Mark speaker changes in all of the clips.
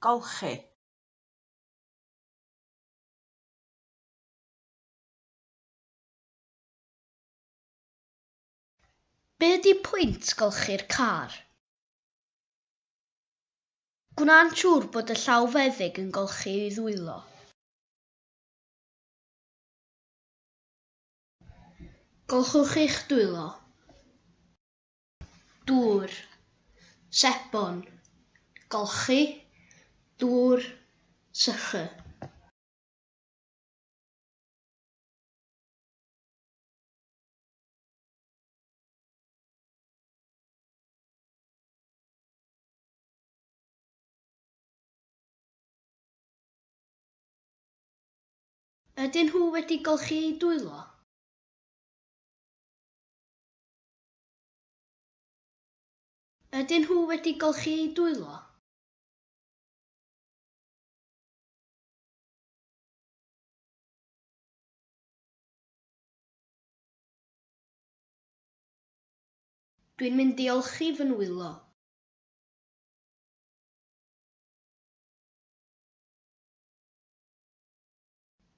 Speaker 1: Golchi. Be ydy pwynt golchi'r car? Gwna'n siŵr bod y llawfeddyg yn golchi ei ddwylo. Golchwch eich dwylo, dŵr, sebon, golchi, dŵr, sychu. Ydyn nhw wedi golchi eu dwylo? Ydyn nhw wedi golchi eu dwylo? Dwi'n mynd i olchi fy nwylo.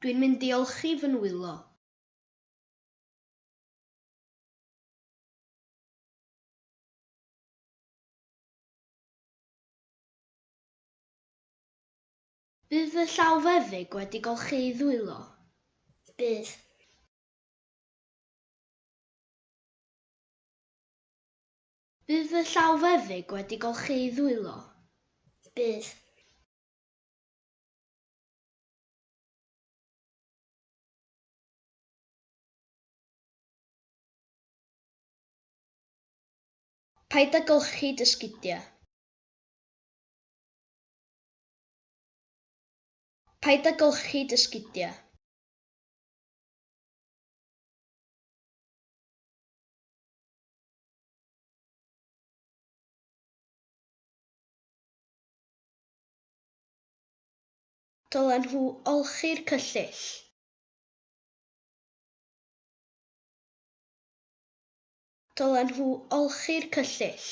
Speaker 1: Dwi'n mynd i olchi fy nwylo. Bydd fy llaw feddyg wedi golchi ei ddwylo. Bydd. Bydd fy llaw feddyg wedi golchi ei ddwylo. Bydd. Paid â golchi dy sgidiau. Paid â golchi dy sgidiau. Dylen nhw olchi'r cyllyll. Dylen nhw olchi'r cyllyll.